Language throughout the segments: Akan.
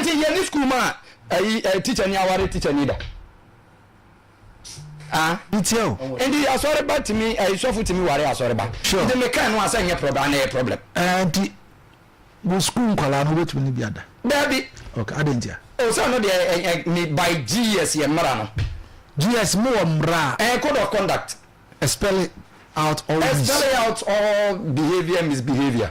Nti yɛ ne school ma ɛyi ɛɛ teacher ni aware teacher ni da. Ah. Nti o. Nti asɔre ba tumi ɛyi sɔfo tumi ware asɔre ba. Sure. Nti me kan no asɛ nyɛ problem ana yɛ problem. Ɛɛ eh, nti wo school nkwalaa no wobɛtumi ne bi ada. Daabi. Okay, adɛn ntia? O sɛ ɔno deɛ ɛ ɛ me by GS yɛ mmara no. GS mo wɔ mmara. Ɛɛ code of conduct. Spell it out all these. Spell it out all behaviour misbehaviour.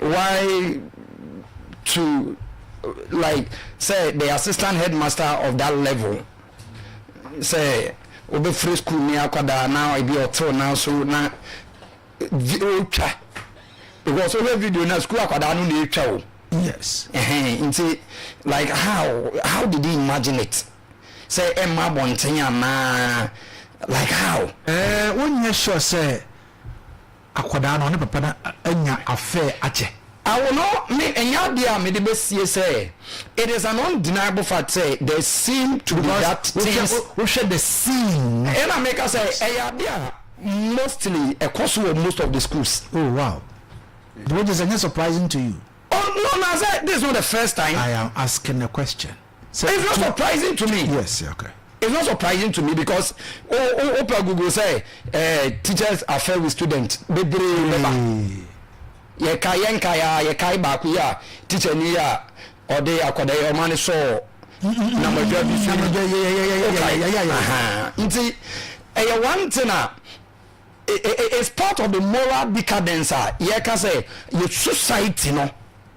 why to like sɛ the assistant headmaster of that level sɛ wobɛfiri school ni akwadaa na ebi ɔtew nan so na ɔtwa because wohwɛ video na school akwadaa no na ɛtwa o yes nti like how how did he imagine it sɛ ɛmma abɔnten anaa like how wonyɛ sure sɛ akwadaa no, ɔne papa no anya afɛ akyɛ. Awo no me ɛnyɛ adeɛ a mede bɛsie sɛ it is an undeniable fact sɛ there seem to be that things. Wohwɛ the scene no. Ɛna meka sɛ ɛyɛ adeɛ a mostly ɛkɔ so wɔ most of the schools. Oh wow. Nti wogye sɛ ɛnyɛ surprising to you? Oh no, na sɛ this is not the first time. I am asking a question. So it's not surprising to me. Yes, yeah, okay. It's not surprising to me because oh oh oh per Google say uh, teachers affair with students bebree bɛba. Yɛ ka yɛ nka ya yɛ ka baako yi a teacher ni a ɔde akɔda yɛ ɔma ne sɔɔ na mɔdwa bi so. Nti ɛyɛ one thing a it's part of the moral decadence a yɛ ka sɛ yɛ society no.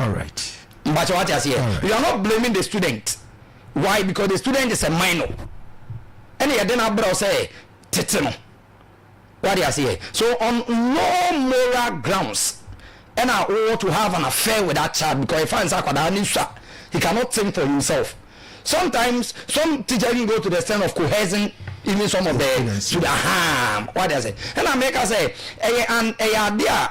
Alright. Mpakyɛ wate aseɛ Alright. you are not blaming the student why because the student is a minor ɛna yɛde no abrɛ wo sɛ tete no wate aseɛ so on no moral grounds ɛna wowɔ to have an affair with that child because ɛfa nsa akwadaa ne sua he cannot think for himself sometimes some teacher even go to the extent of coercing even some of the students aha wate aseɛ ɛna meka sɛ ɛyɛ an ɛyɛ adeɛ a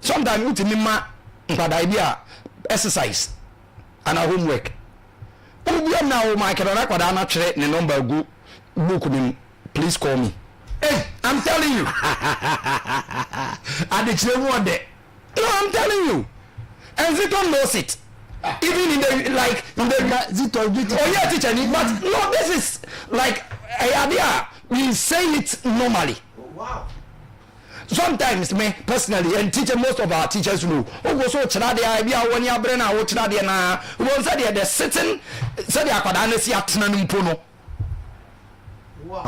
Sometimes wotumi ma nkwadaa bi a exercise anaa homework. Wobia na wo mic no na akwadaa no atwerɛ ne number agu book no mu. Please call me. Hey, I'm telling you. Adekyerɛ mu ɔdɛ. No, I'm telling you. And Zito knows it. Even in the like in the Zito be teacher. Oh yeah, teacher ni. But no, this is like a idea. We say it normally. Oh, wow. Sometimes me personally and teacher most of our teachers know wogo so kyerɛ adeɛ a ebi a wɔn ani abere na wokyerɛ adeɛ na wɔn sɛ deɛ the sitting sɛ deɛ akwadaa no si atena no mpo no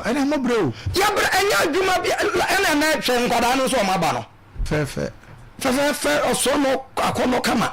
ɛna mo brɛ o yɛbrɛ ɛnyɛ adwuma bi ɛna ɛna ɛtwɛ nkwadaa no nso wɔn aba no fɛfɛ fɛfɛɛfɛ ɔsoro no akɔnɔ kama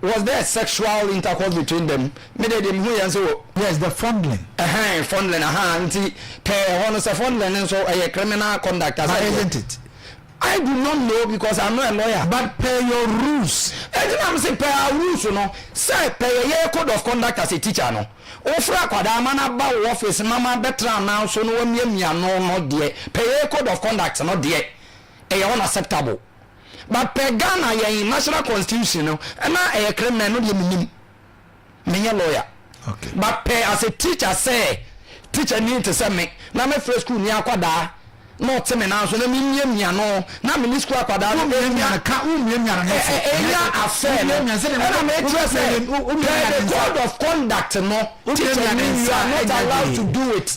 Was there sexual intercourse between them? Me deɛ deɛ mehu yɛ nsɛ wɔ. Yes, the fondling. Ɛhɛn, fondling, ahaa, nti pɛɛ ɛhɔ no sɛ fondling no nso ɛyɛ criminal conduct a, sɛ deɛ. But isn't it? I do not know because I'm not a lawyer. But per your rules. Ɛnti na mese per our rules no, sɛ per yɛ yɛ code of conduct as a teacher no, wofrɛ akwadaa ma no aba wo office ma ma bɛtra anan so na wamiamia ano no deɛ, per yɛ code of conduct no deɛ, ɛyɛ unacceptable. but pɛ Ghana yɛn national constitution no ɛna ɛyɛ criminal ɛno deɛ menim menyɛ lawyer okay. but pɛ as a teacher sɛ teacher ni te sɛ me na mefrɛ school ni akwadaa na ɔte me nan so na memiamia no na me ne school akwadaa no ɛnya afɛ no ɛna mekyerɛ sɛ the code of conduct no teacher ni you are not allowed to do it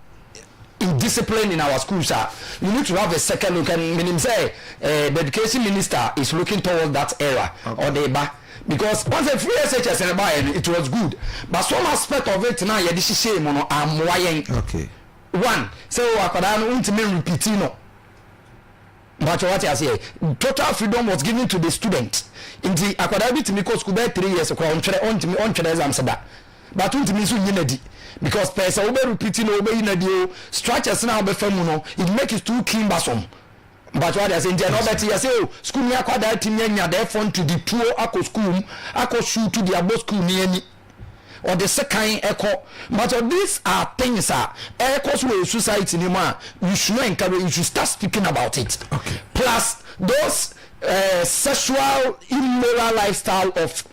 indiscipline in our schools a we need to have a second look and menim sɛ eh, the education minister is looking towards that era okay. or the ba because once a free SHS and buy it was good but some aspect of it now yɛde hyehyɛ mu no ammoa yɛn okay. one sɛ so, akwadaa no wontumi repeat no Mpakyɛw wate aseɛ? Total freedom was given to the student nti akwadaa bi tumi kɔ sukuu bɛyɛ three years koraa ɔntwerɛ ɔntumi ɔntwerɛ exams da but wontumi nso nyi no adi because pɛɛ sɛ wobɛ repeat no wobɛyi no adi o structures no a wobɛfa mu no it make it too cumbersome mpakyɛw wate aseɛ nti ɛna ɔbɛte yɛ sɛ o sukuu ni akwadaa tumi anya dɛɛfɔ nti de tuo akɔ sukuu mu akɔ shoot de abɔ sukuu ni ani. ɔde sekan kɔ but these are things a ɛkɔ so wɔ yɛ society ni mu a you should encourage you should start speaking about it okay. plus those uh, sexual immoral lifestyle of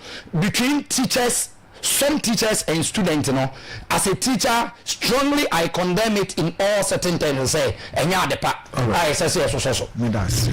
between teachers some teachers and students no as a teacher strongly i condemn it in all certain terms sɛ ɛnyɛ adepa a ɛsɛ sɛ yɛsosɔ so.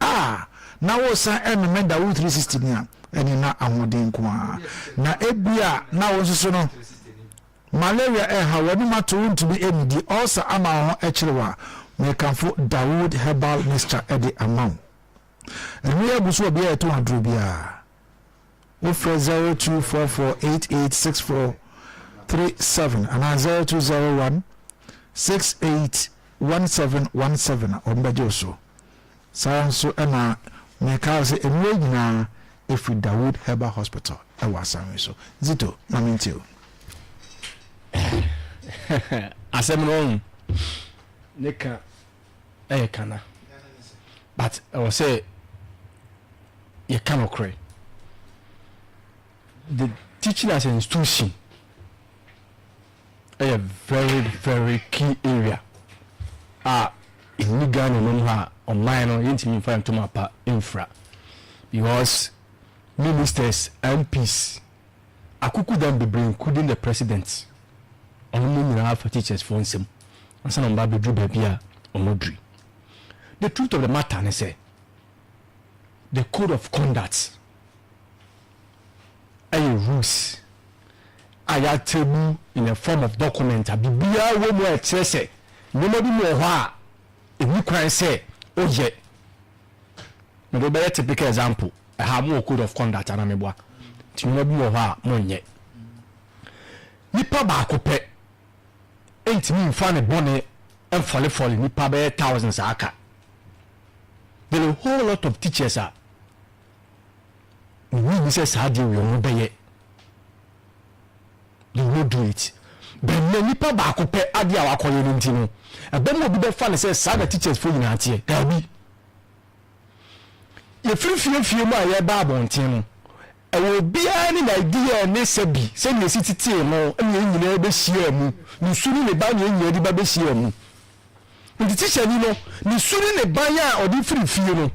a na woresan remema da wo three sixty no a, ɛne na ahoɔden nko ara. Na ebia na wo nso so no, malaria reha wo, anom ato wontumi nnidi, ulcer ama wo ho kyere wo a, mekamfo Dawood Herbal Mixture de ama wo. Ɛno yɛ agu so wɔ bea a yɛtɔn aduro biara. Wofrɛ 0244886437 anaa 0201681717 a, wɔbɛgye wo so. Saa ara nso na meka wo sɛ nnuro nyinaa ɛfiri Dawood Herbal Hospital wɔ asan yi so. Zito, ma mentie o. Asɛm no wahu ne ka. ɛyɛ kana but ɛwɔ sɛ yɛka nokorɛ the teaching as an institution ɛyɛ very very key area a ɛni ghana nom hɔ a ɔman no yɛntumi mfa ntom apa mfira because ministers mps Akuku dan bebree including the president ɔno mo nyinaa fa teachers foɔ nsam ansa na ɔmo ba bɛduru baabi a ɔmo aduru yi. The truth of the matter ne sɛ the code of conduct ɛyɛ rules a yɛatable in a form of document a biribiara wɔ mu a ɛkyerɛ sɛ nneɛma bi mu wɔ hɔ a ɛnni kwan sɛ woyɛ. Mede wo bɛyɛ typical example, ɛha mo wɔ code of conduct anaa meboa? Nti nneɛma bi wɔ hɔ a mo nyɛ. Nipa baako pɛ ntumi nfa ne bɔne nfɔlefɔle nipa bɛyɛ thousands a aka. There a whole lot of teachers a, me nim sɛ saa deɛ wei ɔmo bɛyɛ. They will do it. But nnɛ nipa baako pɛ adeɛ a wakɔyɛ no nti no, ɛbɛma obi bɛfa no sɛ saa na teachers foɔ nyinaa teɛ. Daabi. Yɛfiri fiefie mu a yɛba abɔnten no, ɛwɔ obiara ne n'idea ne sɛbi sɛnea esi tetee no na yɛn nyinaa bɛhyiaa mu, ne su ne ne ban na yɛn nyinaa de ba bɛhyiaa mu. Nti tihyani no, ne su ne ne ban a ɔde firi fie no,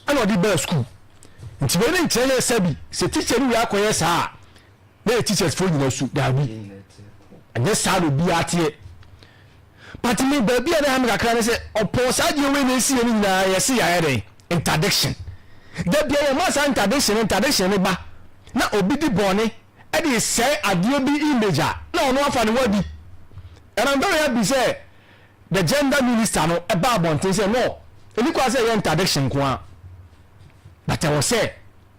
ɛna ɔde baa sukuu nti wei ne nkyerɛ yɛ sɛ bi sɛ teacher no wei akɔyɛ saa a na yɛ teachers foɔ nyina su daabi ɛnyɛ saa na obi ateɛ but me baabi a na ɛhame kakra ne sɛ ɔpɔn saa deɛ wei na ɛsi yɛ no nyinaa yɛ se yɛayɛ dɛn interdiction da bia yɛma saa interdiction interdiction ne ba na obi di bɔne ɛde sɛe adeɛ bi image a na ɔno afa ne wadi and I'm very happy sɛ the gender minister no ɛba abɔnten sɛ no ɛni kwan sɛ ɛyɛ interdiction nko a but ɛwɔ sɛ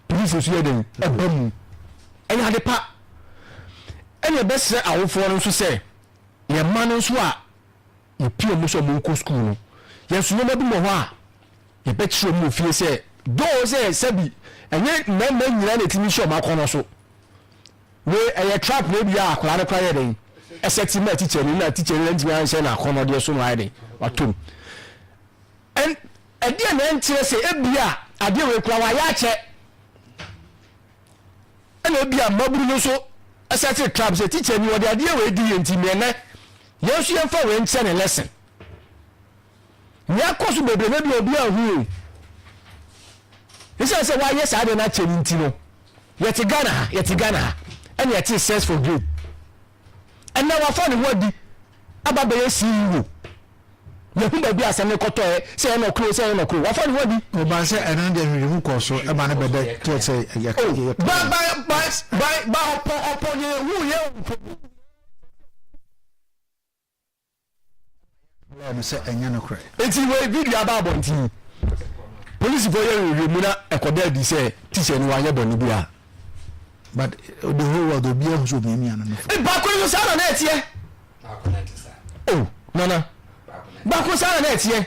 polisi nso yɛ den ɛba mu ɛyɛ ade pa ɛna ɛbɛsrɛ awofoɔ no nso sɛ yɛn mma no nso a yɛpie mu sɛ ɔmo nkɔ sukuu no yɛn nso nneɛma bi wɔ hɔ a yɛbɛkyerɛ ɔmo wɔ fie sɛ doo sɛ sɛbi ɛnyɛ mmarima nyinaa na ɛtumi hyɛ ɔmo akɔnɔ so Wei ɛyɛ trap na ebi a akwadaa no koraa yɛ dɛn ɛsɛ ti ma teacher no na teacher no ntumi anhyɛ na akɔnɔdeɛ so na ayɛ dɛn watom ɛn ɛdeɛ na ɛnkyerɛ sɛ ebi a adeɛ wei koraa wayɛ akyɛ ɛna ebi a mmaburu no nso ɛsɛ te trap sɛ teacher ni wɔde adeɛ wei di yɛn ti mmiɛnɛ yɛn nso yɛn fa wei nkyɛ ne lesson. Nea ɛkɔ so bebree na bi a obiara nhui. Esiane sɛ wɔayɛ saa deɛ no akyɛ no nti no, yɛte Ghana ha, yɛte Ghana ha, ɛna yɛte sex for gain. Ɛnna wafa ne ho adi aba bɛyɛ CEO. Yɛhu baabi a asɛm no kɔtɔɛ, sɛ ɛyɛ nɔkoro, sɛ ɛyɛ nɔkoro, wafa ne ho adi. Ɔbaa sɛ ɛno deɛ nhwehwɛmu kɔɔ so ma no bɛda kyerɛ sɛ yɛ ka yɛ ka. Ba ba ba ba ba ɔpɔ ɔpɔ deɛ ehu yɛ o. Ɛna no sɛ ɛnyɛ no korɛ. Eti wei video aba abɔnten. Polisifoɔ yɛ nhwehwɛ mu na ɛkɔda adi sɛ teacher no wanyɛ bɔne bi a. But the whole world obi ahu sɛ omiamia no no fo. Baako nso saa na na ɛteɛ. Oh nana. Baako saa na na ɛteɛ.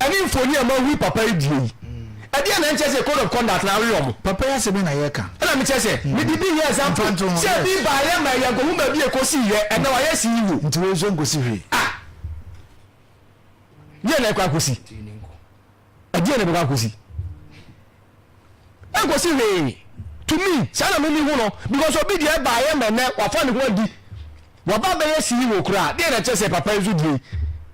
ɛne mfoni a moahu yi papa yi deɛ yi ɛdeɛ na ɛnkyɛ sɛ code of conduct na awe wɔn. Papa yi asɛm na yɛka. Ɛna mekyɛ sɛ mede bi yɛ example sɛ ebi baayɛ ma yɛn kɔhu baabi a ɛkɔsii yɛ ɛna wayɛ CEO. Nti wei nso nkɔsi hwee. Ah! Deɛ na ɛkɔ akɔsi. Ɛdeɛ na ɛbɛkɔ akɔsi. ɛnkɔsi hwee to me saa na mimi ho no because obi deɛ ɛbaayɛ ma ɛnɛ wafa ne ho adi waba bɛyɛ CEO koraa deɛ na kyerɛ sɛ papa yi so deɛ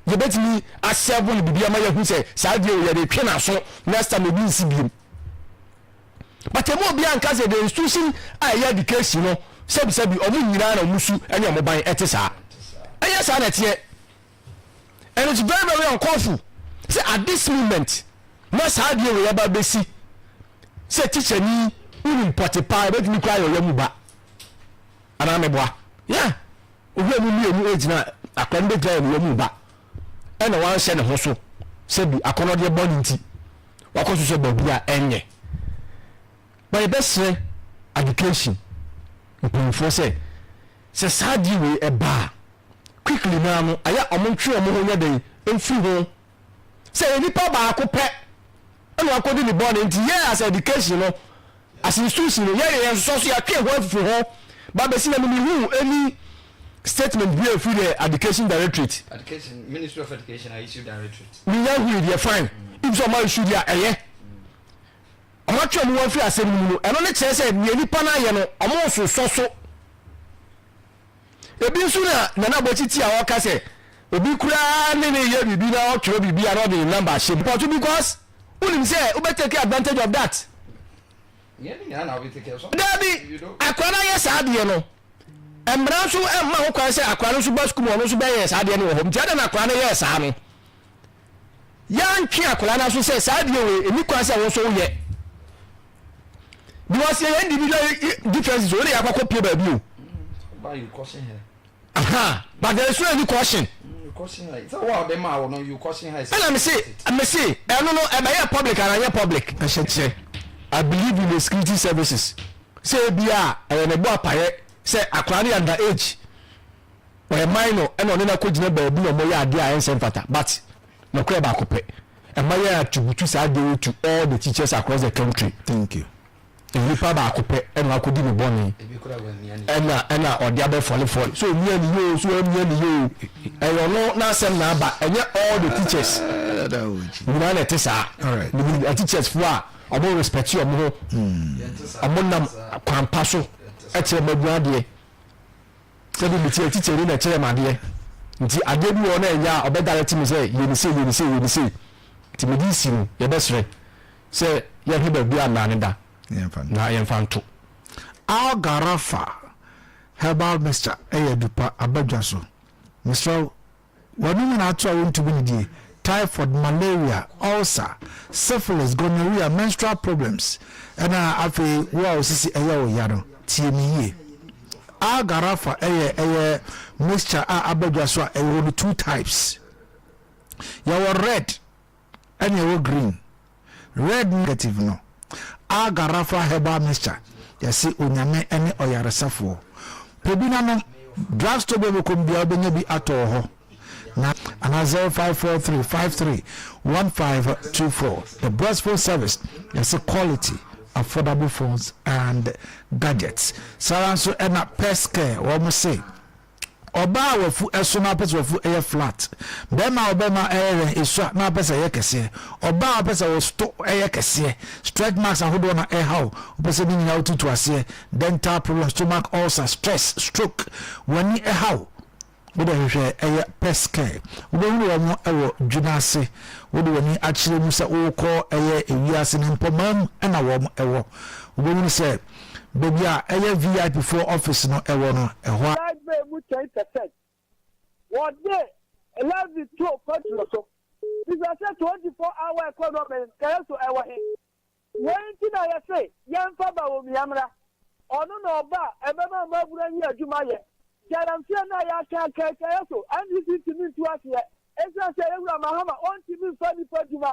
yɛbɛtumi asɛbo no biribi ama yɛahu sɛ saa deɛ wɔ yɛde twe n'aso next time obi nsi biom but ɛmu obi anka sɛ the institution a ɛyɛ education no sɛbisɛbi ɔmo nyinaa na ɔmo su ɛne ɔmo ban ɛte saa ɛyɛ saa na ɛteɛ and it's very very uncallful sɛ at this moment na saa adeɛ wei aba bɛsi sɛ tikya ni wonim pɔte paa ɛbɛtumi kora yɛ ɔyɛ mu ba anaa meboa yeah obi a mu mmienu ɛgyina akora no bɛgyina yɛ ne yɛ mu ba ɛna wanhyɛ ne ho so sɛ bi akɔnɔdeɛ bɔ ne nti wakɔ so sɛ baabi a ɛnyɛ ma yɛbɛserɛ education mpanyinfoɔ sɛ Sɛ saa adeɛ wei ɛba a, quickly no ara no, ɛyɛ a wɔntwe wɔn ho nyɛ dɛn? Mfiri ho. Sɛ ɛyɛ nipa baako pɛ na wakɔdi ne bɔne nti, yɛn as education no, as institution no, yɛyɛ yɛn nsosɔ so, yɛatwe yɛn ho afifiri ho, ba bɛsi na mehuu any statement bi a ɛfiri the education directorate. Education, Ministry of Education a issue directorate. Menya hui deɛ, fine. If sɛ ɔma issue deɛ a, ɛyɛ. wɔatwe wɔn ho afiri asɛm no mu no, ɛno ne kyerɛ sɛ nea nnipa no ayɛ no, wɔnsosɔ so. Ebi nso na Nana Aboakye ti a ɔka sɛ obi koraa ne ne yɛ biribi na ɔtwerɛ biribi a na ɔde ne namba ahyɛ mu. Pɔto because wonim sɛ wobɛtake advantage of that. Daabi, akora no ayɛ saa adeɛ no, mmara nso mma ho kwan sɛ akora no nso ba sukuu mu ɔno nso bɛyɛ saa adeɛ no wɔ hɔ. Nti adɛn na akora no yɛɛ saa no? yɛantwe akwadaa no aso sɛ saa adeɛ wei ɛni kwan sɛ wo nso woyɛ because yɛyɛ individual differences o wode yɛakɔkɔ pie baabi o aha but there is no any caution ɛna mese mese ɛno no ɛbɛyɛ public anayɛ public ɛhyɛ kyerɛ i believe in the security services sɛ ebia ɛyɛ ne bɔ apayɛ sɛ akwadaa no yɛ under age Ɔyɛ minor ɛna ɔne no akɔgyina baabi na wɔyɛ adeɛ a ɛnsɛ mfata but nokorɛ baako pɛ ɛma yɛ attribute saa adeɛ wei to all the teachers across the country. Thank you. Nipa baako pɛ ɛna wakɔdi ne bɔne ɛna ɛna ɔde abɛ fɔle fɔle sɛ ɔmia ne yɛ oo sɛ wamia ne yɛ oo ɛyɛ ɔno n'asɛm na aba ɛnyɛ all the teachers nyinaa na ɛte saa. Menim ateachers foɔ a ɔmo respecti ɔmo ho ɔmo nam kwan pa so ɛkyerɛ mma abua adeɛ. Sɛdeɛ meteɛ tete no na ɛkyerɛɛ me adeɛ, nti adeɛ bi wɔ hɔ no a ɛnyɛ a, ɔbɛdirect me sɛ yɛ no sei, yɛ no sei, yɛ no sei. Nti mede resi no, yɛbɛsrɛ sɛ yɛnhwɛ baabi a nnane da na yɛmfa nto. Algarafa herbal mixture yɛ adu pa abadwa so. Mesrɛ wo Wɔn nyinaa to a wontumi ne die, typhoid, malaria, ulcer, syphilis, gonorrhea, menstrual problems, ɛna afei wo a wo sisi ɛyɛ wo ya no, tie me yie. Algarafa ɛyɛ ɛyɛ mixture a aba dwa so a ɛwɔ no two types. Yɛwɔ red. Ɛna ɛwɔ green. Red ne negative no. Alga Rafa herbal mixture yɛse onyame ne ɔyaresafoɔ. Pɛ bi na nom. Drug store bia wobɛkɔm bia wobɛnya bi atɔ wɔ hɔ na anaa zero five four three five three one five two four. The best phone service yɛse quality affordable phones and gadgets. Saa ara nso ɛna Pest Care wɔn se. Ɔbaa a wafu ɛso na wopɛ sɛ wafu ɛyɛ flat. Bɛrima a ɔbɛma ɛyɛ wɛn esua na wopɛ sɛ ɛyɛ kɛseɛ. Ɔbaa a wopɛ sɛ wo sto ɛyɛ kɛseɛ. Stretch marks ahodoɔ na ɛha wo. Wopɛ sɛ ne nyinaa wotutu aseɛ. Dental problems, stomach ulcer, stress, stroke. W'ani ɛha wo. Wode hwehwɛ ɛyɛ pes care. Wobɛhunu wɔn wɔ dwi no ase. Wode w'ani akyerɛ mu sɛ wokɔ ɛyɛ ewiase no mpɔmaa mu na wɔn wɔ. Wobɛhunu sɛ. Baabi a ɛyɛ VIP foɔ office no wɔ no, ɛhɔ ara. Live Bay mu kyɛn kɛsɛt. Wɔde Levi too kwantu no so, bisa sɛ 24 hour economy nkaeɛ so ɛwɔ he? Wei nti na yɛse yɛmfa Bawumia mmra, ɔno na ɔba a ɛbɛma mmabunu ayi adwuma ayɛ. Galamsey no a yɛaka aka nkaeɛ so, NDC ntumi ntu aseɛ, esiane sɛ Yawura Mahama ɔntumi mfa nnipa adwuma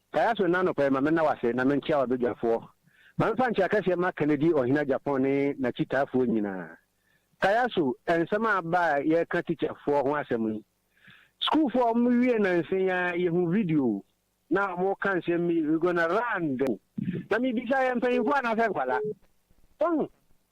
Fa yɛ aso nnɛ anɔpa yi ma menna wo ase na menkyea w'abadwafoɔ. Ma memfa nkyea kɛseɛ mma Kennedy Ɔhene Agyapong ne n'akyitaafoɔ nyinaa. Ka yɛ aso nsɛm a aba a yɛreka tikyafoɔ ho asɛm yi. Sukuufoɔ a wɔwiee nansa yi ara yɛhuu video na wɔreka nsɛm bi, We gonna run them. Na mebisa, yɛ mpanyimfoɔ anaasɛ nkwadaa? Wahu?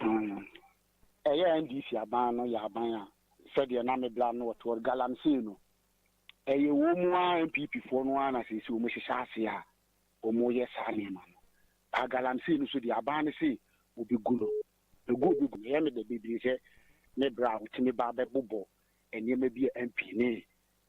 Mm. Ɛyɛ NDC aban no yɛ aban a, sɛdeɛ na me bra no wɔtoɔ galamsey no, ɛyɛ wɔn ara NPP foɔ no ara na seesei wɔn hyehyɛ ase a wɔn yɛ saa nneɛma no. Paa galamsey no so deɛ aban no se wɔbɛgu no, ɛgu wɔbɛgu no. Ɛyɛ me dɛ bebree sɛ me bra a wɔtumi ba bɛbobɔ nneɛma bi a MP ne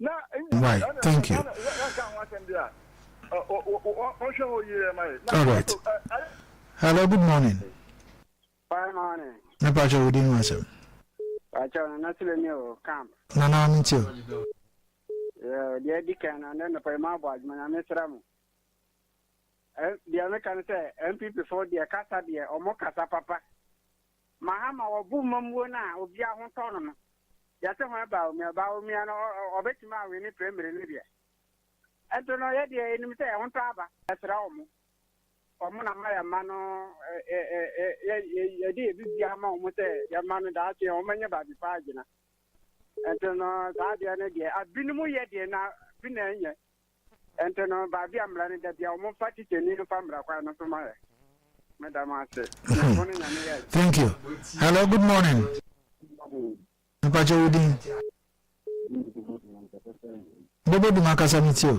Wai thank you alright hello good morning me pa kyɛ wo din ho asɛm nana me nti o deɛ adi kan no ne nɔpa yi ma abɔ adwuma nyame sra mo deɛ meka no sɛ mpp fo deɛ kasa deɛ ɔmo kasa papa Mahama wɔbo mmamuo no a obia ho tɔ no no yɛse hwan Bawumia Bawumia no ɔbɛtumi awene prɛmire no deɛ ɛnto no yɛdeɛ yɛnim sɛ ɛho tɔ aba. Yɛsrɛ wɔn, wɔn na ma yɛmma no yɛde yɛn biribiara ma wɔn sɛ yɛmma no daakye wɔn anya baabi pa agyina. Ɛnto no saa adeɛ no deɛ abinom yɛ deɛ na bi na ɛnyɛ. Ɛnti no baabi a mmra no da bia wɔn fa tikyani no fa mmra kwan no so ma yɛ. Me da mo ase. Nyankopɔn ne Nyame yɛ. Thank you. Hello good morning. Mpakyɛ wo din. Bobo dum akasa mi ti o.